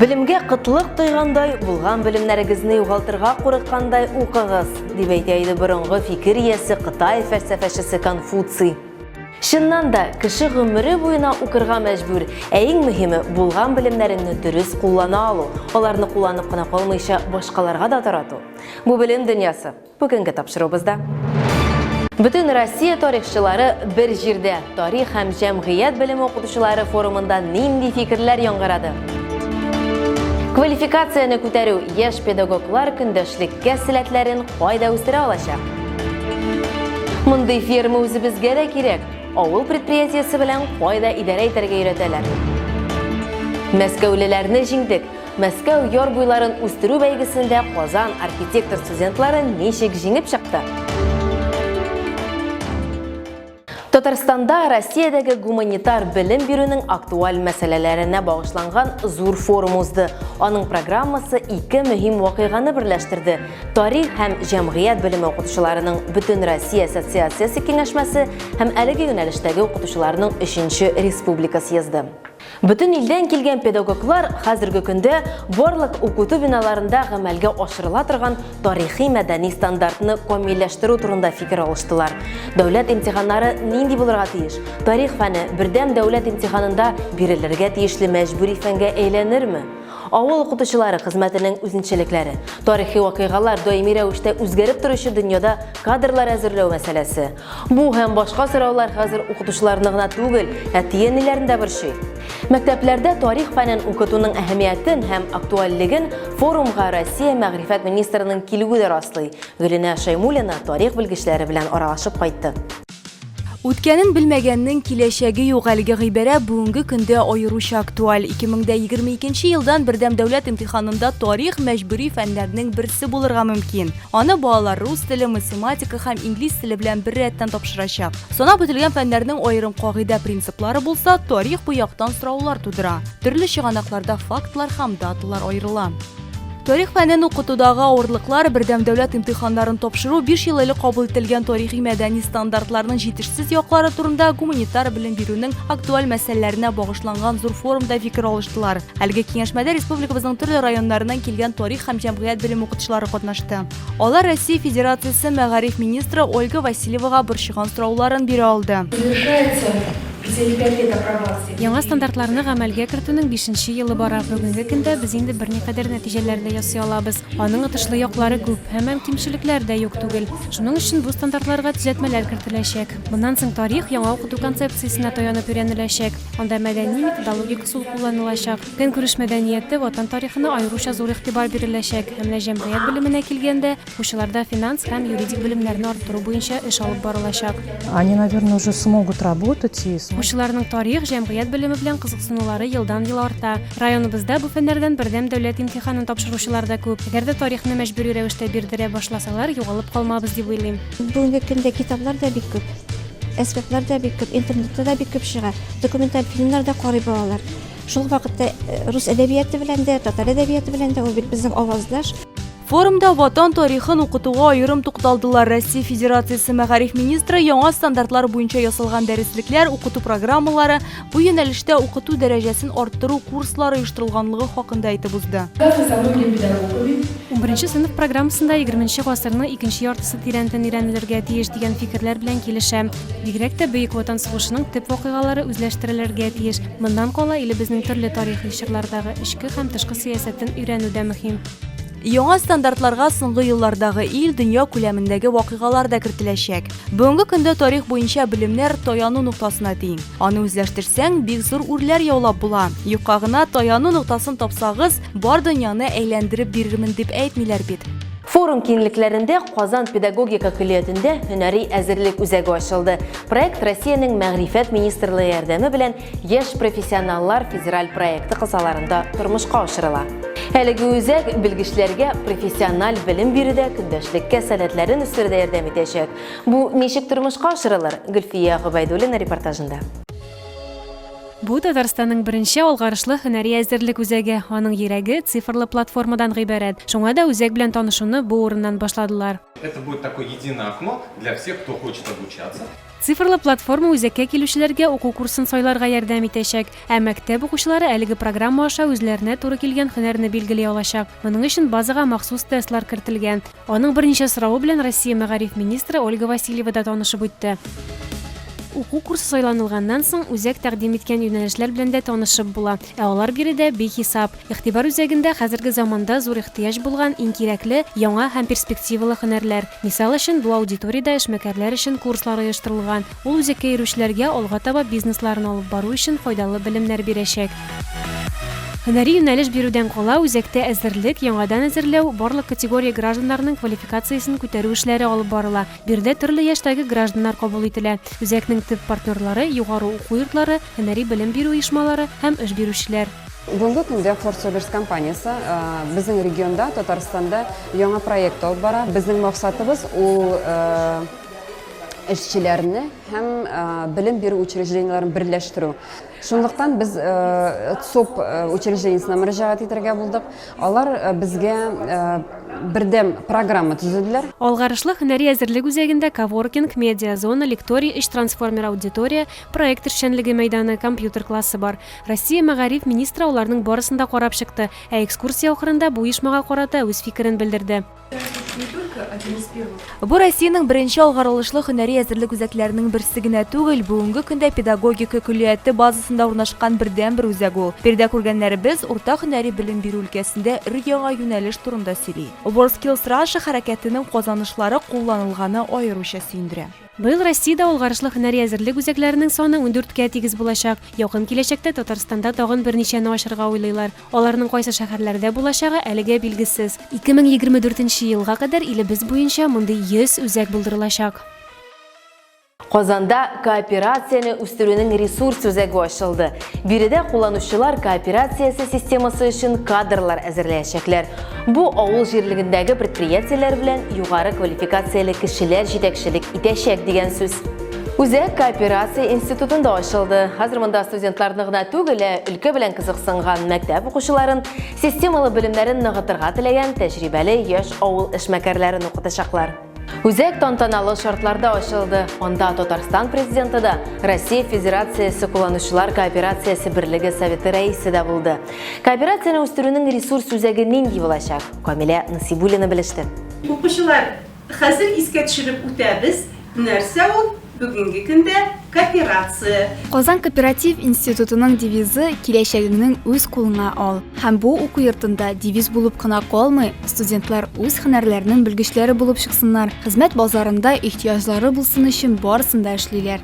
Белемгә кытлык тойгандай, булган белемнәрегезне югалтырга курыккандай укыгыз, дип әйтә иде борынгы фикер иясе Кытай фәлсәфәчесе Конфуций. Чыннан да, кеше гомере буена укырга мәҗбүр, ә иң мөһиме, булган белемнәреңне дөрес куллана алу, аларны кулланып кына калмыйча, башкаларга да тарату. Бу белем дөньясы. Бүгенге тапшыруыбызда Бөтен Россия тарихчылары бер җирдә тарих һәм җәмгыять белеме укытучылары форумында нинди фикерләр яңгырады? Квалификацияне күтәрү яшь педагоглар көндәшлеккә сәләтләрен кайда үстерә алачак? Мондый ферма үзебезгә дә кирәк. Авыл предприятиесе белән кайда идарә итәргә өйрәтәләр? Мәскәүлеләрне җиңдек. Мәскәү яр буйларын үстерү бәйгесендә Казан архитектор студентлары ничек җиңеп чыкты? Татарстанда Россиядәге гуманитар белем бирүнең актуаль мәсьәләләренә багышланган зур форум узды. Аның программасы ике мөһим вакыйганы берләштерде. Тарих һәм җәмгыять белеме укытучыларының бөтен Россия ассоциациясе киңәшмәсе һәм әлеге юнәлештәге укытучыларның 3 республика съезды. Бөтен илдән килгән педагоглар хәзерге көндә барлык укыту биналарында гамәлгә ашырыла торган тарихи-мәдәни стандартны камилләштерү турында фикер алыштылар. Дәүләт имтиханнары нинди булырга тиеш? Тарих фәне бердәм дәүләт имтиханында бирелергә тиешле мәҗбүри фәнгә әйләнерме? Авыл укытучылары хезмәтенең үзенчәлекләре, тарихи вакыйгалар даими рәвештә үзгәреп торучы дөньяда кадрлар әзерләү мәсьәләсе, Бу һәм башка сораулар хәзер укытучыларны гына түгел, әти-әниләрне дә борчый. Мәктәпләрдә тарих фәнен укытуның әһәмиятен һәм актуальлеген форумга Россия мәгърифәт министрының килүе дә раслый. Гөлинә Шәймуллина тарих белгечләре белән аралашып кайтты. Үткәнен белмәгәннең киләчәге юк әлеге гыйбарә бүгенге көндә аеруча актуаль. 2022 елдан бердәм дәүләт имтиханында тарих мәҗбүри фәннәрнең берсе булырга мөмкин. Аны балалар рус теле, математика һәм инглиз теле белән бер рәттән тапшырачак. Санап үтелгән фәннәрнең аерым кагыйдә принциплары булса, тарих бу яктан сораулар тудыра. Төрле чыганакларда фактлар һәм даталар аерыла. Тарих фәнен укытудагы авырлыклар бердәм дәүләт имтиханнарын тапшыру 5 ел элек кабул ителгән тарихи мәдәни стандартларның җитешсез яклары турында гуманитар белем бирүнең актуаль мәсьәләләренә багышланган зур форумда фикер алыштылар. Әлеге киңәшмәдә республикабызның төрле районнарыннан килгән тарих һәм җәмгыять белем укытучылары катнашты. Алар Россия Федерациясе мәгариф министры Ольга Васильевага борчыган сорауларын бирә алды. Яңа стандартларны гамәлгә кертүнең бишенче елы бара. Бүгенге көндә без инде берникадәр нәтиҗәләр дә ясый алабыз. Аның отышлы яклары күп, һәммәм кимчелекләр дә юк түгел. Шуның өчен бу стандартларга төзәтмәләр кертеләчәк. Моннан соң тарих яңа укыту концепциясенә таянып өйрәнеләчәк. Анда мәдәни-методологик Сул кулланылачак. Көнкүреш мәдәнияте, Ватан тарихына аеруча зур игътибар биреләчәк. Ә менә җәмгыять белеменә килгәндә, укучыларда финанс һәм юридик белемнәрне арттыру буенча эш алып барылачак. Они, наверное, уже смогут работать и. Укучыларның тарих, җәмгыять белеме белән кызыксынулары елдан-ел арта. Районыбызда бу фәннәрдән бердәм дәүләт имтиханын тапшыручылар да күп. Әгәр дә тарихны мәҗбүри рәвештә бирдерә башласалар, югалып калмабыз дип уйлыйм. Бүгенге көндә китаплар да бик күп. Әсбаплар да бик күп, интернетта да бик күп чыга. Документаль фильмнар да карый балалар. Шул вакытта э, рус әдәбияты белән дә, татар әдәбияты белән дә ул бит безнең аваздаш. Форумда ватан тарихын укытуга аерым тукталдылар. Россия Федерациясе мәгариф министры яңа стандартлар буенча ясалган дәреслекләр, укыту программалары, Бу юнәлештә укыту дәрәҗәсен арттыру курслар оештырылганлыгы хакында әйтеп узды. Унберенче сыйныф программасында егерменче гасырның икенче яртысы тирәнтен өйрәнелергә тиеш дигән фикерләр белән килешәм. Бигрәк тә Бөек Ватан сугышының төп вакыйгалары үзләштерелергә тиеш. Моннан кала илебезнең төрле тарихи чорлардагы эчке һәм тышкы сәясәтен өйрәнү дә мөһим. Яңа стандартларга соңгы еллардагы ил, дөнья күләмендәге вакыйгалар да кертеләчәк. Бүгенге көндә тарих буенча белемнәр таяну ноктасына тиң. Аны үзләштерсәң, бик зур үрләр яулап була. Юкка гына таяну ноктасын тапсагыз, бар дөньяны әйләндереп бирермен дип әйтмиләр бит. Форум киңлекләрендә Казан педагогика көллиятендә һөнәри әзерлек үзәге ачылды. Проект Россиянең Мәгърифәт министрлыгы ярдәме белән Яшь профессионаллар федераль проекты кысаларында тормышка ашырыла. Әлеге үзәк белгечләргә профессиональ белем бирүдә көндәшлеккә сәләтләрен үстерүдә ярдәм итәчәк. Бу ничек тормышка ашырылыр? Гөлфия Гобәйдуллина репортажында. Бу Татарстанның беренче алгарышлы һөнәри әзерлек үзәге, аның йөрәге цифрлы платформадан гыйбарәт. Шуңа да үзәк белән танышуны бу урыннан башладылар. Это будет такое единое окно для всех, кто хочет обучаться. Цифрлы платформа үзәккә килүчеләргә уку курсын сайларга ярдәм итәчәк, ә мәктәп укучылары әлеге программа аша үзләренә туры килгән һөнәрне билгели алачак. Моның өчен базага махсус тестлар кертелгән. Аның берничә соравы белән Россия мәгариф министры Ольга Васильева да танышып үтте. Уку курсы сайланылганнан соң, үзәк тәкъдим иткән юнәлешләр белән дә танышып була. Ә алар биредә бихисап. Игътибар үзәгендә хәзерге заманда зур ихтыяҗ булган иң кирәкле, яңа һәм перспективалы һөнәрләр. Мисал өчен, бу аудиториядә эшмәкәрләр өчен курслар оештырылган. Ул үзәккә йөрүчеләргә алга таба бизнесларын алып бару өчен файдалы белемнәр бирәчәк. Һөнәри юнәлеш бирүдән кала, үзәктә әзерлек, яңадан әзерләү, барлык категория гражданнарының квалификациясен күтәрү эшләре алып барыла. Биредә төрле яшьтәге гражданнар кабул ителә. Үзәкнең төп партнерлары, югары уку йортлары, һөнәри белем бирү оешмалары һәм эш бирүчеләр. Бүгенге көндә Фордсоверс компаниясе безнең регионда, Татарстанда яңа проект алып бара. Безнең максатыбыз ул эшчеләрне һәм белем бирү учреждениеләрен берләштерү. Шунлыктан без ЦОП учреждениесенә мөрәҗәгать итәргә булдык. Алар безгә бердәм программа төзеделәр. Алгарышлы һөнәри әзерлек үзәгендә коворкинг, медиа-зона, лекторий, өч трансформер аудитория, проект эшчәнлеге мәйданы, компьютер классы бар. Россия мәгариф министры аларның барысын да карап чыкты, ә экскурсия ахырында бу оешмага карата үз фикерен белдерде. Бу Россиянең беренче алгарылышлы һөнәри әзерлек үзәкләренең берсе генә түгел, бүгенге көндә педагогика көллияте базасында урнашкан бердәнбер үзәк ул. Биредә күргәннәребез урта һөнәри белем бирү өлкәсендә өр-яңа юнәлеш турында сөйли. WorldSkills Russia хәрәкәтенең казанышлары кулланылганы аеруча сөендерә. Быел Россиядә алгарышлы һөнәри әзерлек үзәкләренең саны ундүрткә тигез булачак. Якын киләчәктә Татарстанда тагын берничәне ачырга уйлыйлар. Аларның кайсы шәһәрләрдә булачагы әлегә билгесез. 2024 нче елга кадәр илебез буенча мондый 100 үзәк булдырылачак. Казанда кооперацияне үстерүнең ресурс үзәге ачылды. Биредә кулланучылар кооперациясе системасы өчен кадрлар әзерләячәкләр. Бу авыл җирлегендәге предприятиеләр белән югары квалификацияле кешеләр җитәкчелек итәчәк дигән сүз. Үзәк кооперация институтында ачылды. Хәзер монда студентларны гына түгел, ә өлкә белән кызыксынган мәктәп укучыларын, системалы белемнәрен ныгытырга теләгән тәҗрибәле яшь авыл эшмәкәрләрен укытачаклар. Үзәк тантаналы шартларда ачылды. Анда Татарстан президенты да, Россия Федерациясе кулланучылар кооперациясе берлеге советы рәисе дә булды. Кооперацияне үстерүнең ресурс үзәге нинди булачак? Камилә Насибуллина белеште. Укучылар Хәзер искә төшереп үтәбез, нәрсә ул бүгенге көндә кооперация. Казан кооператив институтының девизы Киләчәгеңнең үз кулыңа ал. Һәм бу уку йортында девиз булып кына калмый, студентлар үз һөнәрләренең белгечләре булып чыксыннар, хезмәт базарында ихтыяҗлары булсын өчен барысын да эшлиләр.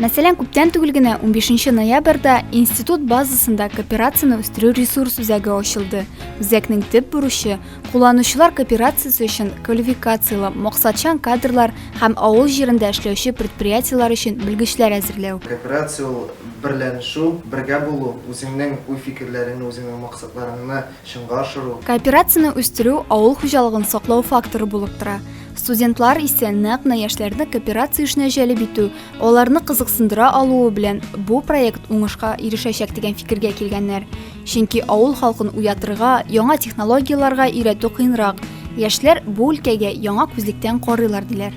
Мәсәлән, күптән түгел генә, унбишенче ноябрьдә институт базасында кооперацияне үстерү ресурс үзәге ачылды. Үзәкнең төп бурычы, Кулланучылар кооперациясе өчен квалификацияле, максатчан кадрлар һәм авыл җирендә эшләүче предприятиеләр өчен белгечләр әзерләү. Кооперация ул, берләнешү, бергә булу, үзеңнең уй-фикерләреңне, үзеңнең максатларыңны чынга ашыру. Кооперацияне үстерү авыл хуҗалыгын саклау факторы булып тора. Студентлар исә нәкъ менә яшьләрне кооперация эшенә җәлеп итү, аларны кызыксындыра алуы белән бу проект уңышка ирешәчәк дигән фикергә килгәннәр. Чөнки авыл халкын уятырга, яңа технологияләргә өйрәтү кыенрак. Яшьләр бу өлкәгә яңа күзлектән карыйлар, диләр.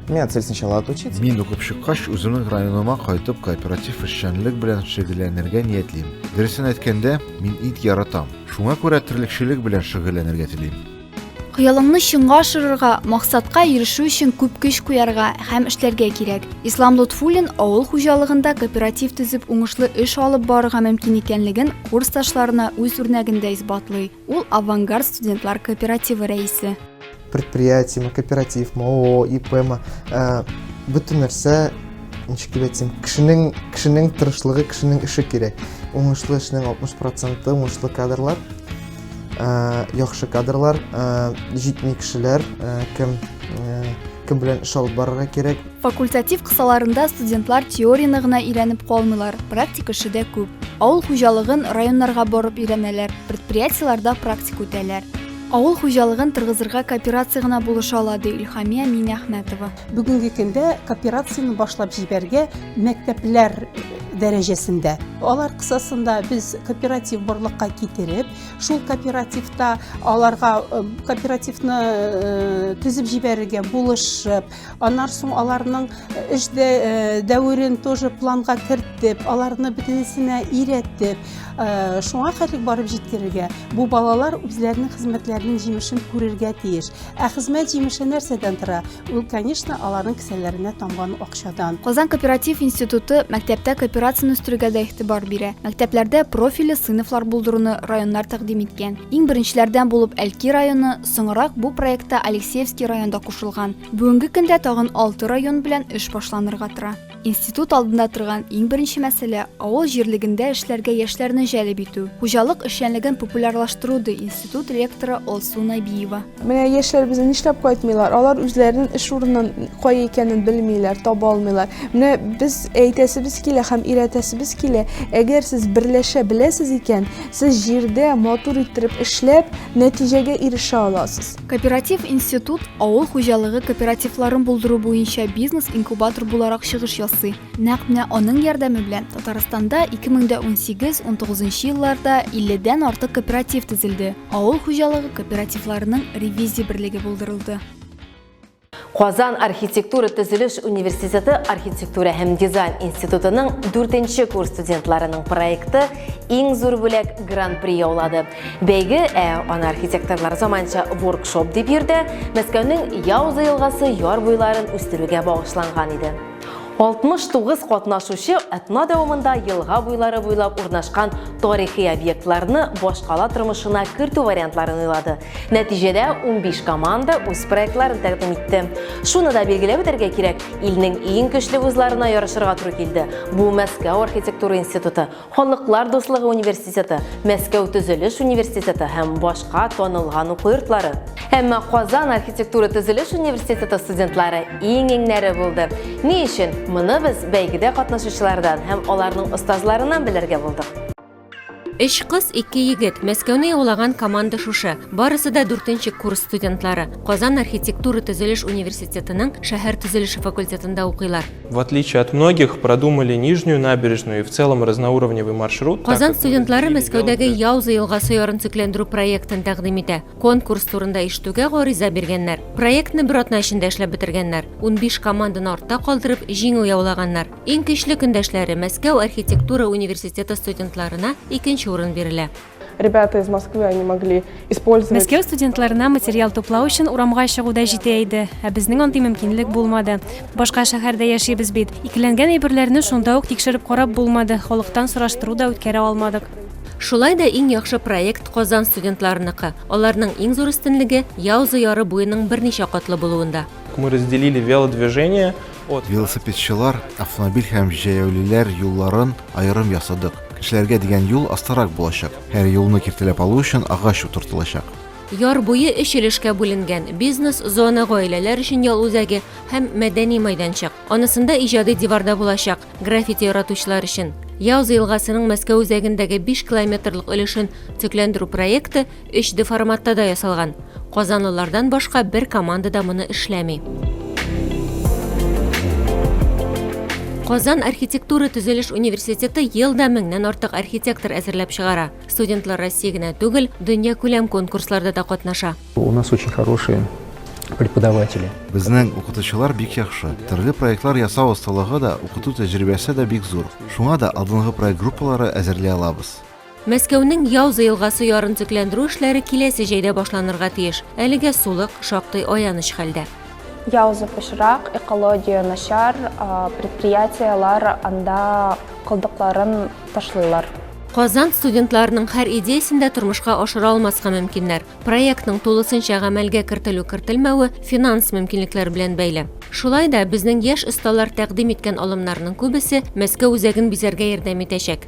Меня цель сначала отучиться. Мин укып чыккач, үземнең районыма кайтып, кооператив эшчәнлек белән шөгыльләнергә ниятлим. Дөресен әйткәндә, мин ит яратам. Шуңа күрә терлекчелек белән шөгыльләнергә телим. Хыялыңны чынга ашырырга, максатка ирешү өчен күп көч куярга һәм эшләргә кирәк. Ислам Лотфуллин авыл хуҗалыгында кооператив төзеп уңышлы эш алып барырга мөмкин икәнлеген курсташларына үз үрнәгендә исбатлый. Ул Авангард студентлар кооперативы рәисе. Предприятиеме, кооперативмы, ООО, ИПмы, э, бөтен нәрсә ничек дип әйтсәм, кешенең кешенең тырышлыгы, кешенең эше кирәк. Уңышлы эшнең 60 проценты уңышлы кадрлар. Э, яхшы кадрлар э, җитми кешеләр э, кем кем белән эш алып барырга кирәк факультатив кысаларында студентлар теорияне гына өйрәнеп калмыйлар практик эше дә күп авыл хуҗалыгын районнарга барып өйрәнәләр предприятиеларда практик үтәләр авыл хуҗалыгын торгызырга кооперация гына булыша ала ди илхамия минәхмәтова Бүгенге көндә кооперацияне башлап җибәргә мәктәпләр дәрәҗәсендә. Алар кысасында без кооператив барлыкка китереп, шул кооперативта аларга э, кооперативны э, төзеп җибәрергә булышып, аннан соң аларның э, эш дәверен тоже планга кертеп, аларны бөтенесенә өйрәтеп, шуңа хәтлек барып җиткерергә, бу балалар үзләренең хезмәтләренең җимешен күрергә тиеш. Ә хезмәт җимеше нәрсәдән тора? Ул, конечно, аларның кесәләренә тамган акчадан. Казан кооператив институты мәктәптә кооперацияне үстерүгә дә игътибар бирә. Мәктәпләрдә профильле сыйныфлар булдыруны районнар тәкъдим иткән. Иң беренчеләрдән булып Әлки районы, соңрак бу проектта Алексеевский район да кушылган. Бүгенге көндә тагын алты район белән эш башланырга тора. Институт алдында торган иң беренче мәсьәлә авыл җирлегендә эшләргә яшьләрне җәлеп итү, хуҗалык эшчәнлеген популярлаштыру, ди институт ректоры Алсу Набиева. Менә яшьләребезне нишләп кайтмыйлар? Алар үзләренең эш урынын кая икәнен белмиләр, таба алмыйлар. Менә без әйтәсебез килә һәм өйрәтәсебез килә, әгәр сез берләшә беләсез икән, сез җирдә матур иттереп эшләп, нәтиҗәгә ирешә аласыз. Кооператив институт авыл хуҗалыгы кооперативларын булдыру буенча бизнес-инкубатор буларак чыгыш ясый. Нәкъ менә аның ярдәме белән Татарстанда 2018-19 елларда 50 дән артык кооператив төзелде, авыл хуҗалыгы кооперативларының ревизия берлеге булдырылды. Казан архитектура-төзелеш университеты архитектура һәм дизайн институтының 4 курс студентларының проекты иң зур бүләк гран-при яулады. Бәйге ә, аны архитекторлар заманча воркшоп дип йөртә, Мәскәүнең Яуза елгасы яр буйларын үстерүгә багышланган иде. 69 катнашучы атна дәвамында елга буйлары буйлап урнашкан тарихи объектларны башкала тормышына кертү вариантларын уйлады. Нәтиҗәдә 15 команда үз проектларын тәкъдим итте. Шуны да билгеләп үтәргә кирәк, илнең иң көчле вузларына ярышырга туры килде. Бу Мәскәү архитектура институты, Халыклар дуслыгы университеты, Мәскәү төзелеш университеты һәм башка танылган уку йортлары. Әмма Казан архитектура төзелеш университеты студентлары иң-иңнәре булды. Ни өчен? Моны без бәйгедә катнашучылардан һәм аларның остазларыннан белергә булдык. Өч кыз, ике егет, Мәскәүне яулаган команда шушы. Барысы да дүртенче курс студентлары. Казан архитектура төзелеш университетының шәһәр төзелеше факультетында укыйлар. В отличие от многих, продумали Нижнюю набережную и в целом разноуровневый маршрут. Казан студентлары Мәскәүдәге Яуза елгасы ярын төкләндерү проектын тәкъдим итә. Конкурс турында ишетүгә гариза биргәннәр. Проектны бер атна эчендә эшләп бетергәннәр. 15 команданы артта калдырып, җиңү яулаганнар. Иң көчле көндәшләре Мәскәү архитектура университеты студентларына икенче урын бирелә. Ребята из Москвы, они могли использовать... Мәскәү студентларына материал туплау өчен урамга чыгу да җитә иде, ә безнең андый мөмкинлек булмады. Башка шәһәрдә яшибез бит. Икеләнгән әйберләрне шунда ук тикшереп карап булмады, халыктан сораштыру да үткәрә алмадык. Шулай да иң яхшы проект Казан студентларыныкы. Аларның иң зур өстенлеге Яуза яры буеның берничә катлы булуында. Мы разделили велодвижение от... Велосипедчылар автомобиль һәм җәяүлеләр юлларын Аерым ясадык. Кешеләргә дигән юл астарак булачак. Һәр юлны киртәләп алу өчен агач утыртылачак. Яр буе өч өлешкә бүленгән, бизнес-зона, гаиләләр өчен ял үзәге һәм мәдәни майданчык. Анысында иҗади диварда булачак, граффити яратучылар өчен. Яуза елгасының Мәскәү үзәгендәге биш километрлык өлешен төкләндерү проекты Өч д форматта да ясалган. Казанлылардан башка бер команда да моны эшләми. Казан архитектура төзелеш университеты елда меңнән артык архитектор әзерләп чыгара. Студентлар Россия генә түгел, дөнья күләм конкурсларда да катнаша. У нас очень хорошие преподаватели. Безнең укытучылар бик яхшы. Төрле проектлар ясау осталыгы да, укыту тәҗрибәсе дә бик зур. Шуңа да алдынгы проект группалары әзерли алабыз. Мәскәүнең Яуза елгасы ярын төкләндерү эшләре киләсе җәйдә башланырга тиеш. Әлегә сулык шактый аяныч хәлдә. Яуза пычрак, экология начар, предприятиеләр анда калдыкларын ташлыйлар. Казан студентларының һәр идеясен дә тормышка ашыра алмаска мөмкиннәр. Проектның тулысынча гамәлгә кертелү-кертелмәве финанс мөмкинлекләр белән бәйле. Шулай да, безнең яшь осталар тәкъдим иткән алымнарның күбесе Мәскәү үзәген бизәргә ярдәм итәчәк.